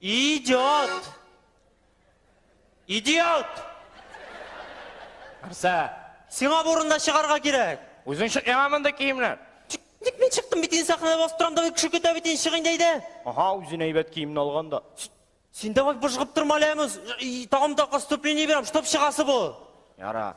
Идиот! Идиот! Арса, сиңа бурында чыгарга кирәк. Үзең чык яңа монда киемнәр. Ник мин чыктым бит инде сәхнәдә басып торам да кеше көтә бит инде чык инде әйдә. Ага, үзен әйбәт киемне алган да. Син давай быжгып торма әле, Тагын да коступление бирәм, чтоб чыгасы бу. Яра.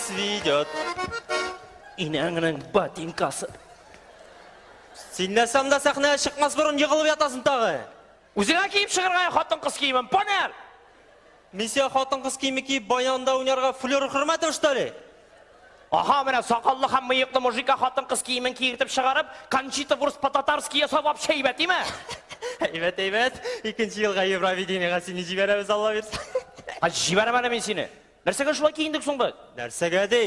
Свидет. Инәңнең ботинкасы. Син нәрсәм дә сәхнәгә чыкмас борын егылып ятасың тагы. Үзеңә киеп чыгарга хатын кыз киемен, понер! Мин сиңа хатын кыз киеме киеп баянда уйнарга флер хөрмәтем что ли? Аха, менә сакаллы һәм мыеклы мужика хатын кыз киемен киертеп чыгарып, Кончита Вурс по-татарски ясап вообще әйбәт, име? Әйбәт, әйбәт. Икенче елга Евровидениега сине җибәрәбез, Алла бирсә. Җибәрәм әле мин сине. Нәрсәгә шулай киендек соң без? Нәрсәгә ди?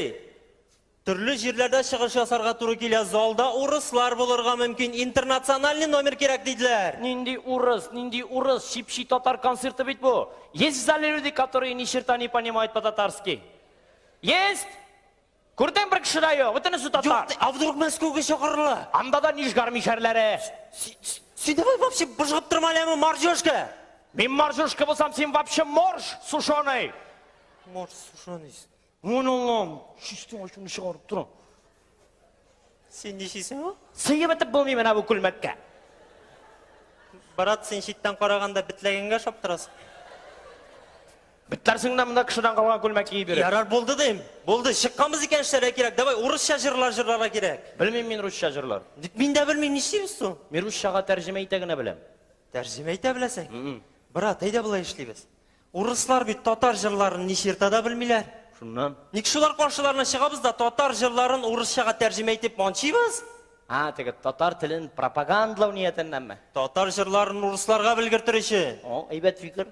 Төрле җирләрдә чыгыш ясарга туры килә, залда урыслар булырга мөмкин, интернациональный номер кирәк диделәр. Нинди урыс, нинди урыс, чипчи татар концерты бит бу. Есть в зале люди, которые ни черта не понимают по-татарски? Есть? Күрдең, бер кеше дә юк, бөтенесе татар. Юк, а вдруг Мәскәүгә чакырыла? Анда да нижгар мишәрләре. Син давай вообще быжгып торма әле, моржёшка. Мин моржёшка булсам, син вообще морж сушеный. Морж сушеный. Мон Аллам, чистый ачуны чыгарып тора. Син ничисең ул? Сыеп итеп булмый менә бу күлмәккә. Брат, син читтән караганда битләгәнгә шаптырасың. Бетләрсең дә монда кешедән калган күлмәк киеп йөреп. Ярар, булды дим. Булды. Чыкканбыз икән эшләргә кирәк. Давай, урысча җырлар җырларга кирәк. Белмим мин русча җырлар. Ник мин дә белмим, нишлибез соң? Мин русчага тәрҗемә итә генә беләм. Тәрҗемә итә беләсең? М-м. Брат, әйдә болай эшлибез. Урыслар бит татар җырларын ничерта да белмиләр. Шуннан. Ник шулар каршыларына чыгабыз да татар җырларын урысчага тәрҗемә итеп манчыйбыз? А, теге татар телен пропагандлау ниятеннәнме? Татар җырларын урысларга белгертер өчен. О, әйбәт фикер.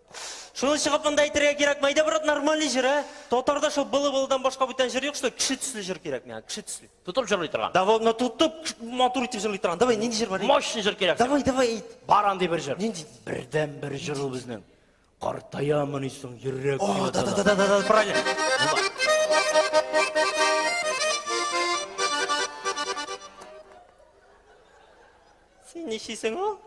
Шуны чыгып монда әйтергә кирәк, мәйдә брат нормальный җыр, ә? Татарда шул былы-былыдан башка бүтән җыр юк, что кеше төсле җыр кирәк миңа, кеше төсле. Тотып җырлый торган. Давай, но тотып матур итеп җырлый торган. Давай, нинди җыр бар? Мощный җыр кирәк. Давай, давай әйт. Бар андый бер җыр. Нинди? Бердән бер җыр ул безнең. Картаямыни соң йөрәк. О, да, да, да, да, да, правильно. Син ничисең ул?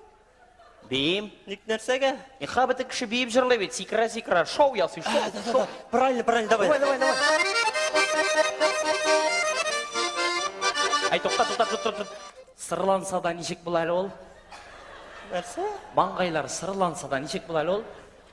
Биим. Ник нәрсәгә? Иха бөтен кеше биеп җырлый бит. Сикерә сикерә шоу ясый. Шоу. шоу. Правильно, правильно, давай. Давай, давай, давай. Ай, тукта, тукта, тукта, тукта. Сырланса да ничек була әле ул? Нәрсә? Маңгайлар сырланса да ничек була әле ул?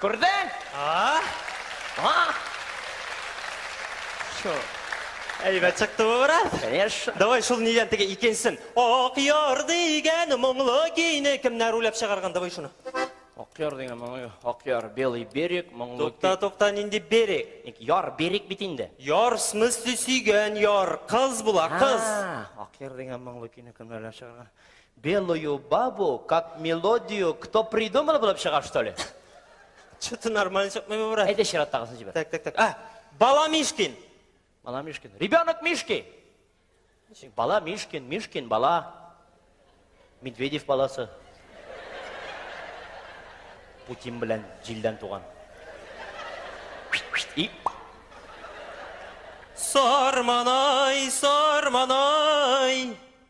Күрдең? А? Чу. Әйбәт чыкты бу бераз. Конечно. Давай шул нидән теге икенчесен. Ак яр дигән моңлы көйне кемнәр уйлап чыгарган? Давай шуны. Ак яр дигән моңлы көй. Ак яр, белый берег, моңлы көй. Тукта, тукта, нинди берег? Ник яр, берег бит инде. Яр, в смысле сөйгән яр, кыз була, кыз. А, Ак яр дигән моңлы көйне кемнәр уйлап чыгарган? Белую бабу как мелодию кто придумал булып чыга что ли? Что-то нормально чыкмый бу брат. Әйдә чираттагысын җибәр. Так, так, так. А, бала Мишкин. Бала Мишкин. Ребенок Мишки. Бала Мишкин, Мишкин бала. Медведев баласы. Путин белән җилдән туган. И Сарманай, сарманай.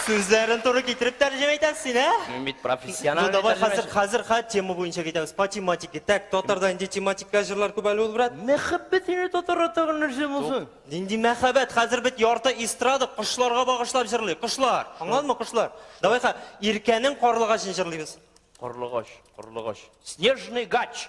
Сүзләрен туры китереп тәрҗемә итәсең син, ә? Мин бит профессиональ. Ну давай хәзер хәзер хә тема буенча китәбез. По тематике. Так, татарда нинди тематика җырлар күп әле ул, брат? Мәхәббәт ине татар атаган нәрсә булсын. Нинди мәхәббәт? Хәзер бит ярты эстрада кошларга багышлап җырлый. Кошлар. Аңладыңмы, кошлар? Давай ха, Иркәнең карлыгачын җырлыйбыз. Карлыгач, карлыгач. Снежный гач.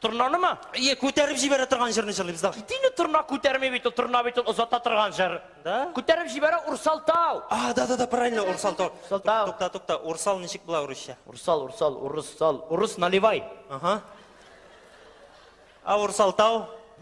Торнаны ма? Ие, күтәреп җибәрә торган җырны җырлыйбыз, давай. Кит инде, торна күтәрми бит ул, торна бит ул озата торган җыр. Да? Күтәреп җибәрә Урсалтау. А, да, да, да, правильно, Урсалтау. Урсалтау. Тукта, тукта, Урсал ничек була урысча? Урсал, Урсал, Урыссал, Урыс наливай. Ага. А Урсалтау?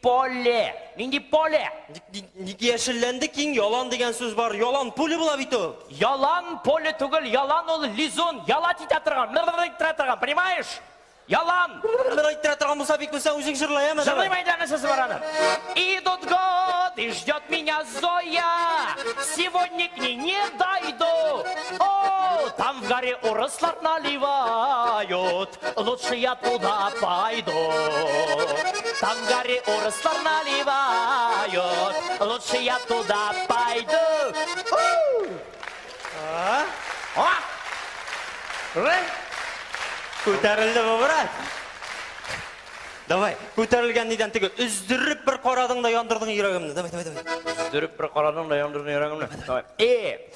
Поле! Нинди поле? Ник яшелләнде киң ялан дигән сүз бар. Ялан пуле була бит ул. Ялан поле түгел, ялан ул лизун, ялат итә торган, мыр-мыр иттерә торган, понимаешь? Ялан! Мыр иттерә торган булса бик белсәң үзең җырлай әмма. Җырлыйм әйдә нәрсәсе бар аны. Идут год, и ждет меня Зоя. Сегодня к ней не дойду. О, там в горе урыслар наливают. Лучше я туда пойду. Там горы урслар наливают. Лучше я туда пойду. А? О! Ры? Күтәрелде бу, брат. Давай, күтәрелгән нидән теге өздереп бер карадың да яндырдың йөрәгемне. Давай, давай, давай. Өздереп бер карадың да яндырдың йөрәгемне. Давай. Э,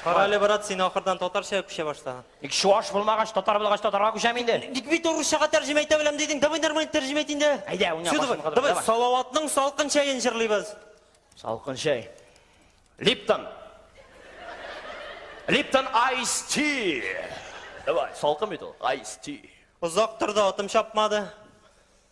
Кара әле, брат, син ахырдан татарча күчә башла. Ник чуаш булмагач, татар булгач татарга күчәм инде. Ник бит урысчага тәрҗемә итә беләм дидең? Давай нормально тәрҗемә ит инде. Әйдә, уйна, башымны кадыр, давай. Давай, Салаватның салкын чәен җырлыйбыз. Салкын чәй. Липтон. Липтон айс ти. Давай, салкын бит ул. Айс ти. Озак торды, атым чапмады.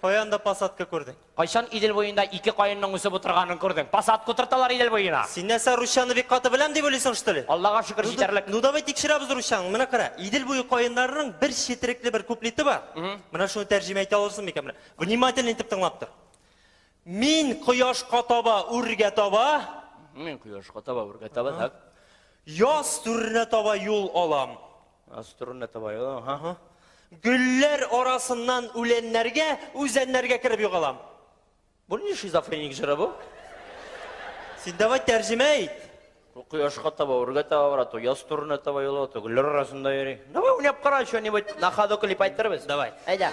Кая анда посадка күрдең? Кайчан Идел буенда ике каенның үсеп утырганын күрдең? Посадка утырталар Идел буена. Син нәрсә, русчаны бик каты беләм дип уйлыйсың, что ли? Аллага шөкер, Ну, җитәрлек. Ну, давай тикшерәбез русчаңны. Менә кара, Идел буе каеннарының бер четерекле бер куплеты бар. Менә шуны тәрҗемә итә алырсың микән? Менә, внимательно итеп тыңлап тор. Мин кояшка таба үргә таба. Мин кояшка таба үргә таба, так. Яз түренә таба юл алам. Аструнна табай. Аһа. Гөлләр арасыннан үләннәргә, үзәннәргә кереп югалам. Бу ни шизофреник җыры бу? Син давай тәрҗемә ит. Ул кояшка таба, үргә таба бара, то яз турына таба юл ала, то гөлләр арасында йөри. Давай уйнап кара, что-нибудь на ходу клип әйтербез. Давай. Әйдә.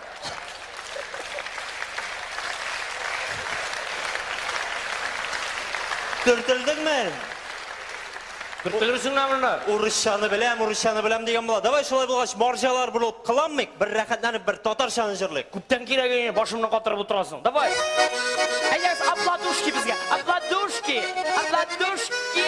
Төртелдеңме? Төртелерсең дә монда. Урысчаны беләм, урысчаны беләм дигән була. Давай шулай булгач, марҗалар булып кыланмыйк, бер рәхәтләнеп бер татарчаны җырлыйк. Күптән кирәге не, башымны катырып утырасың. Давай. Әйдәгез, апладушки безгә. Апладушки. Апладушки.